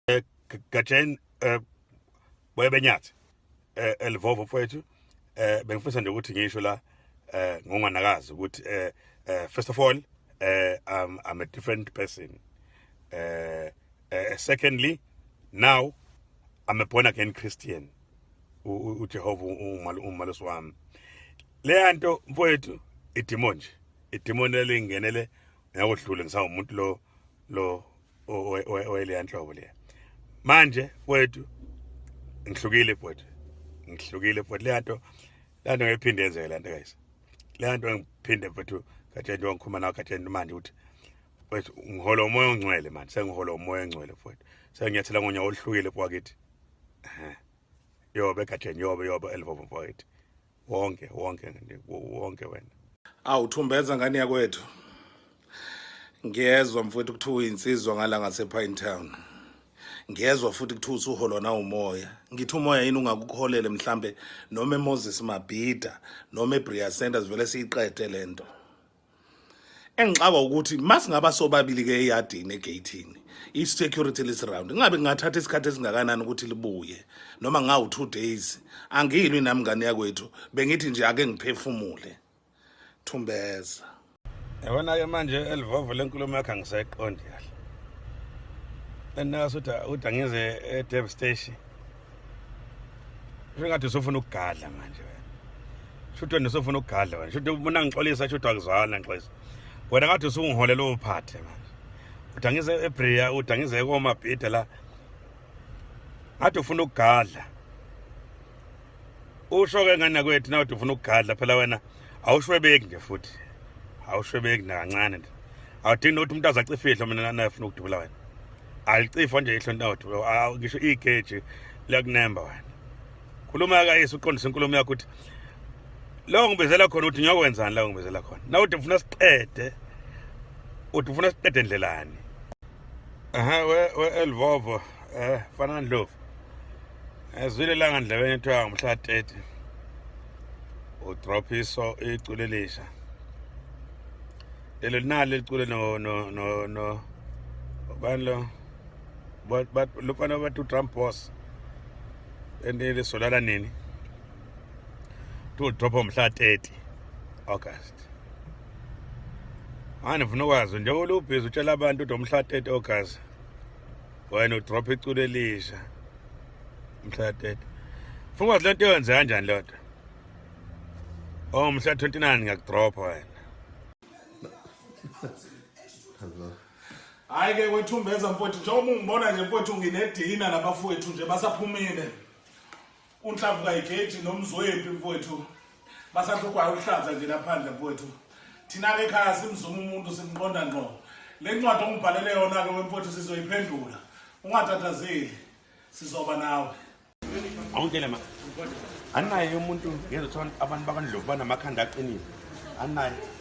eh, Gatsheni eh, boye benyathi eh, elivovo mfowethu eh bengifisa nje ukuthi ngisho la eh ngonganakazi ukuthi eh, eh first of all eh I'm, I'm a different person eh uh, secondly now I'm a born again Christian uJehova umalusi wami leya nto mfowethu idemon nje idemon elingenele ngakodlule ngisawumuntu lo lo oyile yanhlobo leya manje wethu ngihlukile bhuti ngihlukile bhuti le nto le nto ngiphinde yenzeke le nto guys le nto ngiphinde bhuti kade nto ngikhuluma nawe kade nto manje ukuthi wethu ngihola umoya ongcwele manje sengihola umoya ongcwele bhuti senginyathela ngonya oluhlukile bhwakithi yobe kade yobe yobe elvovo bhwakithi wonke wonke wonke wena awu thumbeza ngane yakwethu ngiyezwa mfowethu kuthiwa uyinsizwa ngala ngasepine town ngiyezwa futhi kuthiwa usuholwa nawumoya ngithi umoya yini ungakuholele mhlambe noma emoses mabhida noma ebriya centers vele siyiqede le nto engixakwa ukuthi masingaba sobabili ke eyadini egeyithini i-security lisiround ingabe ngingathatha isikhathi esingakanani ukuthi libuye noma ngawu-two days angiyilwi nami ngane yakwethu bengithi nje ake ngiphefumule thumbeza yabona-ke manje elivovo lenkulumo yakho angisayiqondi kahle and nasuthi uthi angize e-deb station Shingathi usofuna ukugadla manje wena. Shuthe nisofuna ukugadla wena. Shuthe ubona ngixolisa shuthe akuzwana ngixolisa. Wena ngathi usungiholela ophathe manje. Udangize eBria, udangize komabhida la. Ngathi ufuna ukugadla. Usho ke ngana kwethu na uthi ufuna ukugadla phela wena. awushwebeki nje futhi awushwebeki nakancane nje awudingi nokuthi umuntu azacifihlo mina nafuna ukudubula wena alicifo nje ihlo ntothi ngisho igeji liyakunemba wena khuluma kayise uqondisa inkulumo yakho ukuthi lo ngibizela khona ukuthi ngiyokwenzani la ngibizela khona na uthi ufuna siqede uthi ufuna siqede ndlelani aha we we elvovo Eh, fana ndlovu. Ezwile langa ndlebeni kuthiwa ngomhla 30. Udrop iso iculo elisha. Lelo nali liculo no no no no banlo but but lopana ba to Trump boss. Ende lesolala nini? To drop ngomhla 30 August. Manje ngifuna ukwazi njengoba ulubhizi utshela abantu ukuthi umhla 30 August wena udrop iculo elisha mhlatete funga ukuthi lento yenze kanjani lodwa oh mhla 29 ngiyakudropha wena hayi ke wethumbeza mfowethu njengoba ungibona nje mfowethu nginedina nabafowethu nje basaphumile unhlavu kayigeji nomzwempi mfowethu basahlugwayo ukuhlaza nje laphandle mfowethu thina-ke ekhaya simzuma umuntu simqonda ngqo le ncwadi ongibhalele yona-ke wemfowethu sizoyiphendula ungatatazeli sizoba nawe awungitshele ma anaye umuntu ngezothiwa abantu bakandlovu banamakhanda aqinile anaye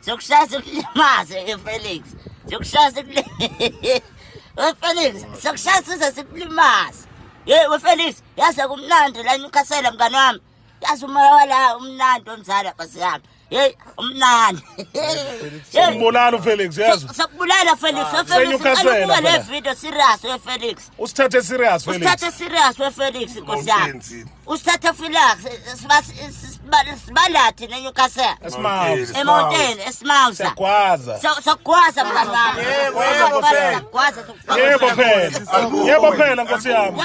Siyokushaya sikulimaze ke Felix. Siyokushaya sikulimaze. We Felix, siyokushaya size sikulimaze. Ye we Felix, yaze kumnandi la Newcastle mngane wami. Yaze umoya wala umnandi omzala basi yami. Hey, umnandi. Umbulala uFelix yazi. Sakubulala Felix, ah, Felix. Ubuka le video serious we Felix. Usithathe serious Felix. Usithathe serious we Felix Nkosi yami. usithathe filax sibandathi nenewcastle emonteni esimausa sokugwaza mngani wami yebo phela nkosi yami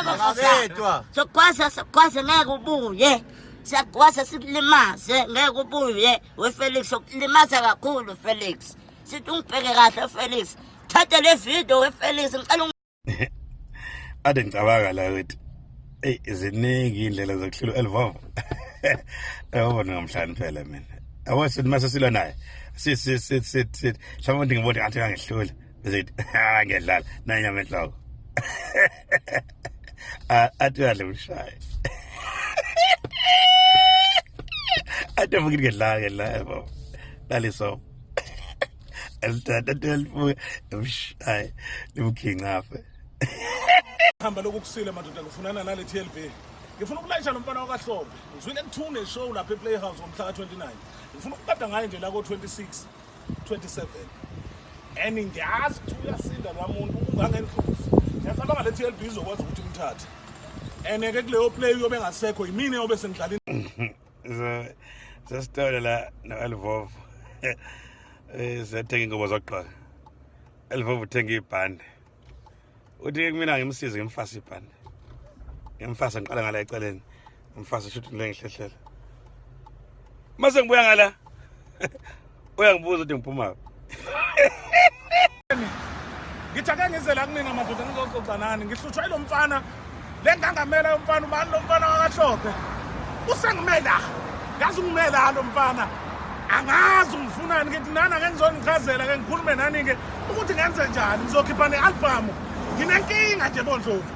sokugwaza sokugwaza ngeke ubuye siyagwaza sikulimaze ngeke ubuye wefelix sokulimaza kakhulu felix sithi ungibheke kahle felix thatha le video wefelix ngicela ade ngicabanga la ukuthi eyi ziningi iy'ndlela zokuhlula elivova yabona ngamhlani phela mina yabo sithi mase silwa naye sithi mhlawumbe ukuthi ngibone ngathi kangehlula zithi ngiyadlala nanyama enhloko athi uyadla umshaye athi avuke ngedlala ngedlala yabo lalisomo elitatatatelifuke emshaye limkhincafe hamba lokhu kusile madoda ngifunana nale TLB ngifuna ukulayisha lo mfana wakahlombe ngizwile kuthune show lapha eplayhouse ngomhla ka-29 ngifuna ukukada ngaye nje la ko-26 27 and ngiyazi ukuthi uyasinda lwa muntu ungangendlovu ngiyacabanga le TLB izokwazi ukuthi imthathe and-ke kuleyo play uyobe engasekho yimina eyobe sengidlala sesitolo la no-elvovo um siyathenga ingubo zokugqoka elvovo uthenga ibhande uthi kumina ngimsize ngimfase ibhande ngimfase ngiqala ngala eceleni ngimfase shuthi lengihlehlela mase ngibuya ngala uyangibuza ukuthi ngiphuma ngithi ake ngize la kunina madoda ngizoxoxa nani ngihlutshwa yilo mfana le ngangamela yomfana ubani lo mfana wakahlophe usengimela ngazi ungimela lo mfana angazi ungifunani ngithi nana ke ngizonichazela ke ngikhulume nani-ke ukuthi ngenze njani ngizokhipha ne-albhamu nginenkinga nje bondlovu